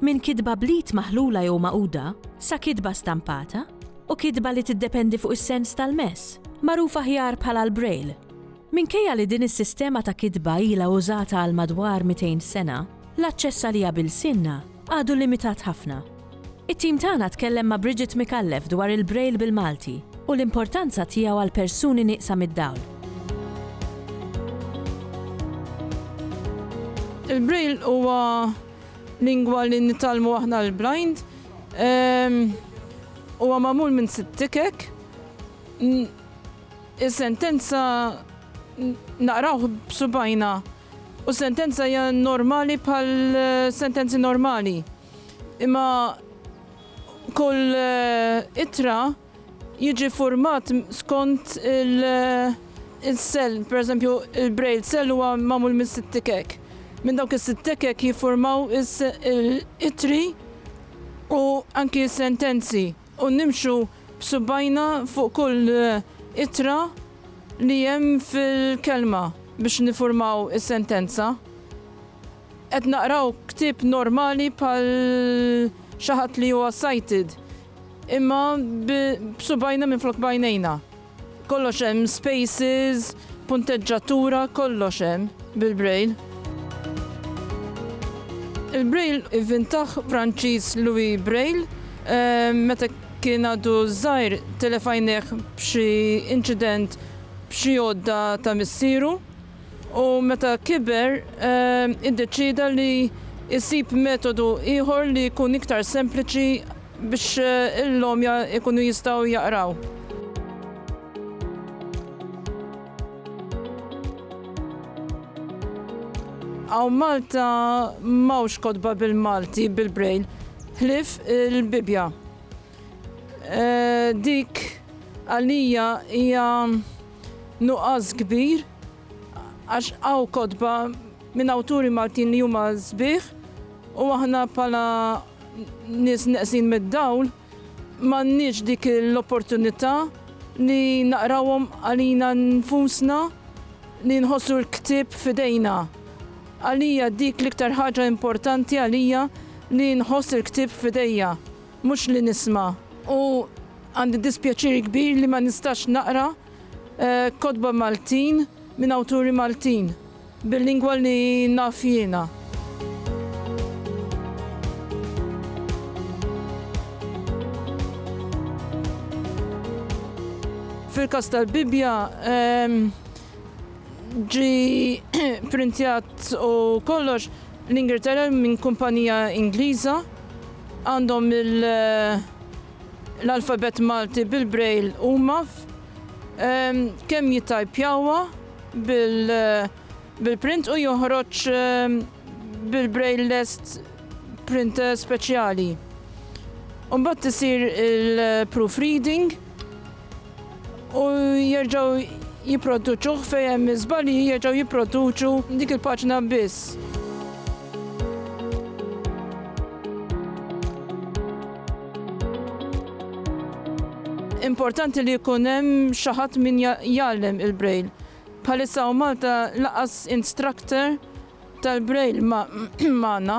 Minn kitba bl-id maħlula jew magħquda, sa kitba stampata, u kitba li tiddependi fuq is-sens tal-mess, magħruf aħjar bħala l-Braille. Minkejja li din is-sistema ta' kitba ilha użata għal madwar 200 sena, l-aċċess għaliha b'ilsienna għadu limitat ħafna. It-tim tagħna tkellem ma' Bridget Micallef dwar il-Braille bil-Malti u l-importanza tiegħu għal persuni nieqsa mid-dawl. Il-Braille huwa Lingwa li nitgħallmu aħna l-blind huwa magħmul minn sitt tikek. Is-sentenza naqrawh b'subajna u sentenza hija normali bħal sentenzi normali. Imma kull ittra jiġi ffurmat skont il-sell, pereżempju il-braille cell huwa magħmul minn sitt tikek. Minn dawk is-sitt tikek jiffurmaw it-ittri u anki s-sentenzi u nimxu b'subgħajna fuq kull ittra li hemm fil-kelma biex niffurmaw is-sentenza. Qed naqraw ktieb normali bħal xi ħadd li huwa sighted. Imma b'subgħajna minflok b'għajnejna. Kollox hemm, spaces, punteġġatura, kollox hemm bil-Braille. Il-Braille ivvintah Franċiż Louis Braille meta kien għadu żgħir telef għajnejh b'xi inċident b'xi għodda ta' missieru. u meta kiber iddeċieda li jsib metodu ieħor li jkun iktar sempliċi biex l-għomja jkunu jistgħu jaqraw. Hawn Malta m'hawnx kotba bil-Malti bil-Braille, ħlief il-Bibbja. Eh, dik għalija hija nuqqas kbir għax għaw kodba minn awturi Maltin li huma sbieħ u aħna pala nis neqsin mid-dawl m'għandniex dik l-opportunità li naqrawhom għalina nfusna li nħossu l-ktib fidejna. Għalija dik l-iktar ħaġa importanti għalija li nħoss il-ktib fidejja. Mhux li nisma' u għandi dispjaċir kbir li ma nistax naqra kotba Maltin minn awturi Maltin bil-lingwa li naf jiena. Fil-każ tal-Bibbja, ġie pprintjat u kollox l-Ingilterra minn kumpanija Ingliża. għandhom l-alfabett Malti bil-Braille huma kemm jittajpjawha bil-print u joħroġ bil-Braille lest printer speċjali. Imbagħad isir il-proofreading. u jerġgħu jipproduċuh fejn hemm iż-żbalji jerġgħu jipproduċu dik il-paġna biss. importanti li jkun hemm xi ħadd min jgħallem il-braille. Bħalissa u Malta laqas instructor tal-braille magħna.